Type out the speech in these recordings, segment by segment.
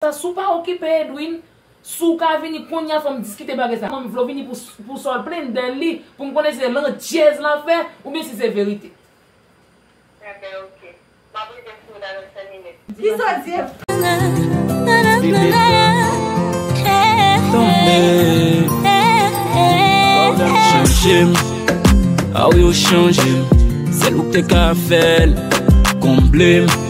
Sassou pa okipe Edwin, si w ka vini konnya fò m diskite bagay sa, m vle w vini pou sa w plenn dèl li pou m konnen si se landjèz lap fè oubyen si se verite. Enben ok. Map rive sou ou la nan 5 minit. Di Zòdyè p. Chanje m, ah wi ou chanje m, sèl ou k te ka fè l, konble m.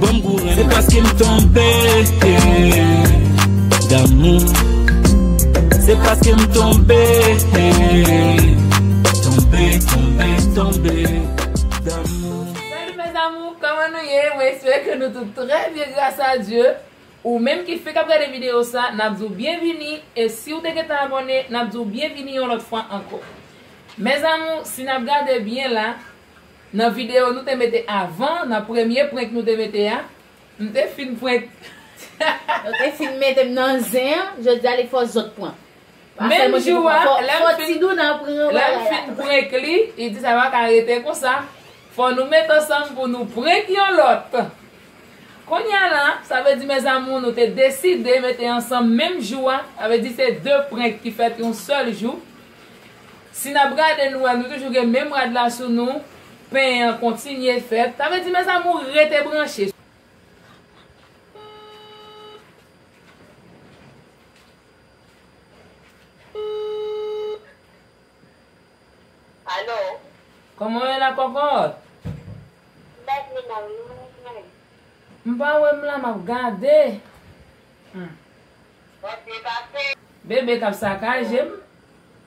Banm gou renmen. Se paske m tonbe damou. Se paske m tonbe, tonbe, tonbe, tonbe damou. Salut mes amours, kòman nou ye? Mwen espere ke nou tout trè byen gras a Dye. Ou menm ki fenk ap gade video sa, nap di w byenvini e si w te gentan abòne, nap di w byenvini yon lòt fwa ankò. Mes amours, si nap gade byen la, Nan video nou te mete avan, nan premye prank nou te mete a, m te fin prank. Yo te fin mete m nan zen an, jodi a li fò zòt pran. Menm jou a, lè m fin, lè m fin prank li, li di sa pa ka rete konsa, fò nou met ansanm pou nou prank yon lòt. Kounya la, sa vle di mes amours nou te deside mete ansanm menm jou a, sa vle di se 2 prank ki fèt yon sèl jou. Si nap gade nou wè nou toujou gen menm rad la sou nou, pen an kontinye fèt, sa vle di mes amours rete branche. Allo. Koman w ye la kòkòt? Mbak li nan menm. M pa wè m la map gade. Hum. Wap byen pase. Bebe kap sakaje m.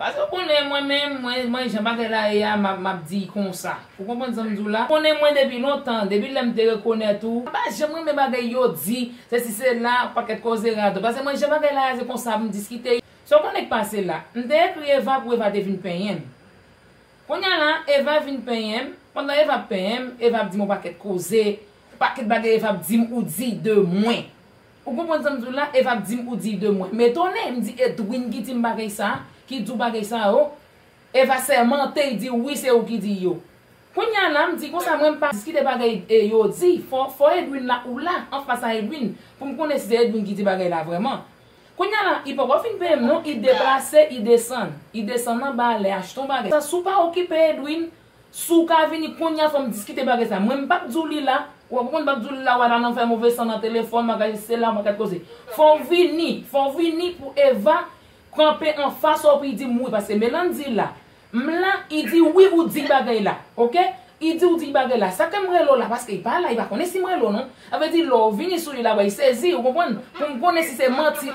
Paske w konnen mwen menm, mwen, mwen jan bagay la ye a, map, map di konsa. Ou konprann sa m di w la? Ou konnen mwen depi lontan, depi lè m te rekonèt ou, mwen pa janm renmen bagay yo di, sesi sela, pakèt koze radot. Paske mwen jan bagay la ye a se konsa m diskite yo. Sa w konnen k pase la? M te ekri Eva pou Eva te vin penyen m. Kounye a la, Eva vin penyen m, pandan Eva ap penyen m, Eva ap di m yon pakèt koze, yon pakèt bagay Eva ap di m ou di de mwen. Ou konprann sam diw la Eva ap dim ou diy de mwen metone m di Edwin ki dim bagay sa ki diw bagay sa yo Eva sèmante y diw wi se ou ki diy yo kounya la m di konsa mwen m pa diskite bagay yo di fò fò Edwin la ou la anfas a Edwin pou m konnen si se Edwin ki di bagay la vrèman kounya la y poko fin peye m non y deplase y desann y desann anba lè achte yon bagay sa si w pa okipe Edwin Si w ka vini kounye a fò m diskite bagay sa. Mwen m p ap di w li la. Ou pa konprann m p ap di w li la w al nan fè move san nan telefòn, bagay isi la, bagay koze. Fò w vini, fò w vini pou Eva kanpe anfas ou pou l di m wi. Paske Melann di la, m la, li di wi ou di bagay la. Ok? Li di ou di bagay la. Sa ke m rele w la paske li pa la, li pa konnen si m rele w non. Sa vle di lè w vini sou li la wè, li sezi, ou konprann, pou m konnen si se manti.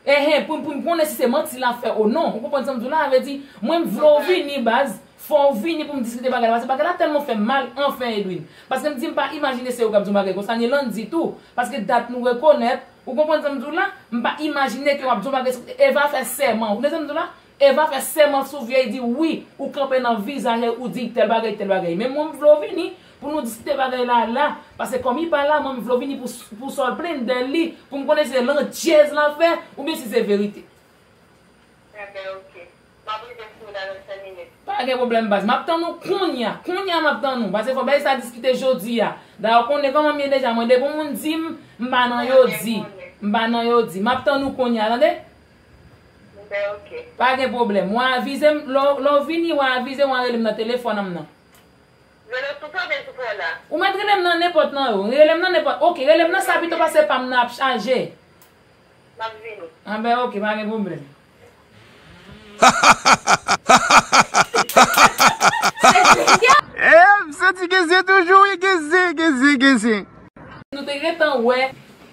Ehe pou poun konnen si se manti lap fè ou non ou konprann sam diw la sa vle di mwen m vle w vini baz fòw vini poum diskite bagay la paske bagay la tèlman fèm mal anfen Edwin paske m di m pa imajine se ou kap di yon bagay konsa ni Landy tou paske dat nou rekonèt ou konprann sam diw la m pa imajine ke wap di yon bagay Eva fè sèman ou konnen sam diw la Eva fè sèman sou vye di wi ou kanpe nan vizaje ou di tèl bagay tèl bagay men mwen m vle w vini pou nou diskite bagay la la pase kòm li pa la mwen m vle w vini pou pou sa w plenn dè li pou m konnen si se landjèz la fè oubyen si se verite. Enben ok. Map rive sou ou nan 25 minit. Pa gen pwoblèm baz. Map tann ou kounya. Kounya map tann ou. Pase fò bagay sa diskite jodi a. Dayè ou konnen kòman m ye deja mwen depi yon moun di m m pa nan yo di. M pa nan yo di. Map tann ou kounya tande. Mwen ok. Pa gen pwoblèm. Wa avize m, lè w vini wa avize m wa rele m nan telefòn an m nan. Rele m sou sa oubyen sou pwen la? Ou mèt rele m nan nenpòt nan yo. Rele m nan nenpòt. Ok, rele m nan sa pito pase pa m nan ap chaje. M ap vini. Anben ok, pa gen pwoblèm. Eeh m santi gen zen toujou wi gen zen gen zen gen zen. Nou te gentan wè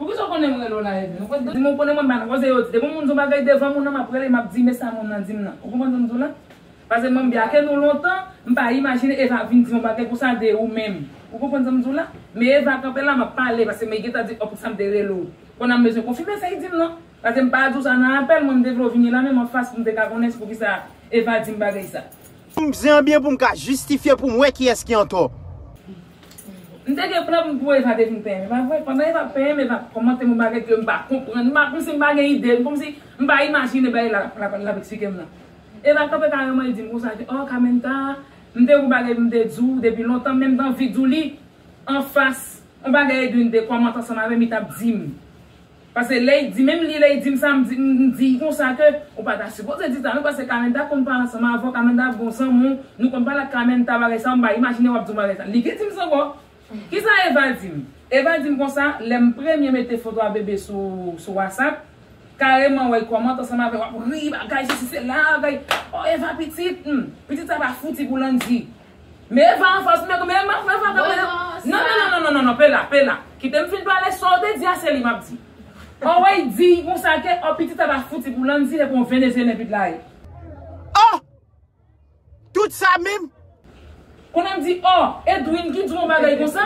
Poukisa w konnen m rele w la Evelyne? Ou pa t di m ou konnen mwen bann koze yo di. Depi yon moun di yon bagay devan moun nan m ap rele m ap di men sa moun nan di m nan. Ou konprann sa m di w la? Pase mwen m byake nou lontan, m pa imajine Eva vin di yon bagay konsa de ou menm. Ou konprann sa m di w la? Men Eva kanpe la m ap pale pase men gentan di oh poukisa m te rele w. Konn a m bezwen konfime sa li di m nan. Pase m pa di w sa nan apèl mwen m te vle w vini la menm anfas pou m te ka konnen se poukisa Eva di m bagay sa. Pou m bzwen byen pou m ka jistifye pou m wè kiyès ki antò. M te gen plan pou Eva te fin penyenm, e pa vre? Pandan Eva ap penyenm, Eva ap kòmante m yon bagay ke m pa konprann, m pa, kòmsi m pa gen ide, kòmsi m pa imajine bagay l ap eksplike m lan. Eva kanpe kareman, li di m konsa, ke, Oh, Carmenta, m te gen yon bagay pou m te di w depi lontan, men m te anvi di w li anfas, yon bagay Edwin te kòmante ansanm avè m, li t ap di m. Pase ley di menm li ley dim sa mdi mdi konsa ke ou pata sipoze di sa non pase Carmenta konn pale ansanm avèw Carmenta bon zanmi w nou konn pale ak Carmenta bagay sa mpa imajine wap diw bagay sa li ki dim sa ankò kisa Eva dim Eva dim konsa lèm premye mete foto a bebe sou sou wasap kareman wèy kòmant ansanm avèw wap ri bagay sesi sela bagay oh Eva pitit humm pitit sa pa fouti pou Landy. Men eva anfas men koumen eva eva eva Mwen anfas la Non non non non non pela pela Kitem fin pale sa ou te di a se li map di An weyy diy konsa ke an pitit aba fouti pou Landy se pou yon venezyelyen pit la ye. Oh! Tout sa menm? Kounye a m di oh! Edwin ki di w yon bagay konsa?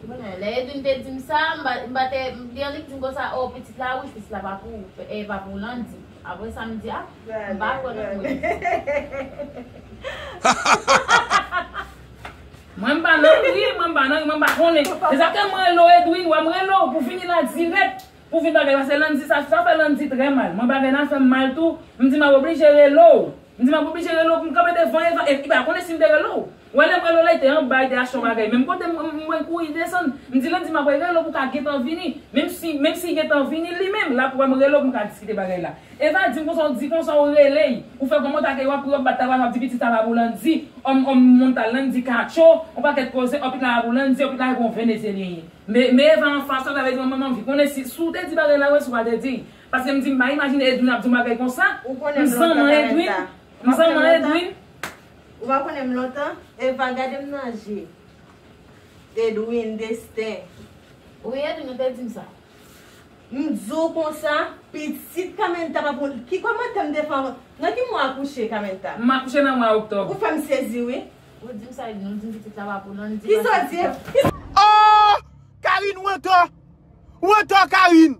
Mwen, lè Edwin te di m sa, m pa te, m li an li t di m konsa oh pitit la wi fis la pa pou ou, e pa pou Landy. Apre sa m di a, m pa kwè nan mwen. Mwen m pa nan ri, mwen m pa nan ri, mwen m pa konnen. Se sa ke m rele w Edwin, wè m rele w pou vini la dirèk. Pou vini bagay la, se Landy sa, sa fè Landy trè mal. Mwen bagay la fè m mal tou, m di m ap oblije rele w. M di m ap oblije rele w pou m kanpe devan Eva e m pa konnen si m te rele w. Wè lè m rele w la li te anba li te achte yon bagay menm kote m m wè l kouri desann. M di l an di m apre rele w pou w ka gentan vini. Menm si menm si gentan vini li menm l ap wè m rele w pou m ka diskite bagay la. Eva di m konsa w di konsa w rele y ou fè kòman w ta ke y w ap ri w ap bat tabal w ap di pitit sa pa pou Landy òm òm montal Landy katcho yon pakèt koze òpit la pa pou Landy òpit la se pou yon venezyelyen ye. Me Eva anfas ou sa vle di m m anvi konnen si si w te di bagay la wè si w pa te di l. Paske m di m pa imajine Edwin ap di yon bagay konsa. Ou konnen m lontan Carlita. M zanman Edwin. M zanman Edwin. Ou pa konnen m lontan. Eva gade m nan je. Edwin, Destin. Wi Edwin ou te di m sa. M di w konsa, pitit Carmenta pa pou l. Ki kòmantè m te fè anvan? Nan ki mwa w akouche Carmenta? M akouche nan mwa oktòb. Ou fè m sezi wi. Ou di m sa Edwin, ou di m pitit la pa pou l. Kisa w di? Ohh! Carine ou antò. Ou antò Carine.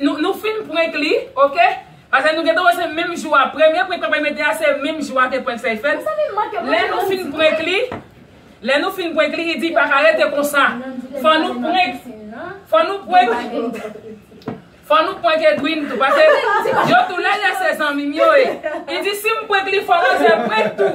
Nou fin prank li ok. Paske nou gentan wè se menm jou a premye prank papay mete a se menm jou a te prank fèy fèt lè nou fin prank li lè nou fin prank li li di paka rete konsa fò nou prank fò nou prank fò nou prank Edwin tou paske yo tou lè lè se zanmim yo e li di sim prank li fò manzè prank tou.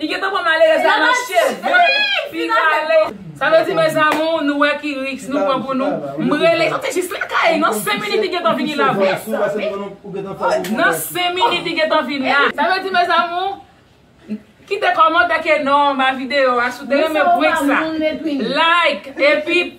Li gentan pran malerèz la nan cheve pi rale. Sa vle di mes amours nou wè ki risk nou pran pou nou. M rele yo te jis lakay nan 5 minit li gentan vini la vre. Nan 5 minit li gentan vin la. Sa vle di mes amours kite kòmantè ke non ba video a si w te renmen prank sa like epi.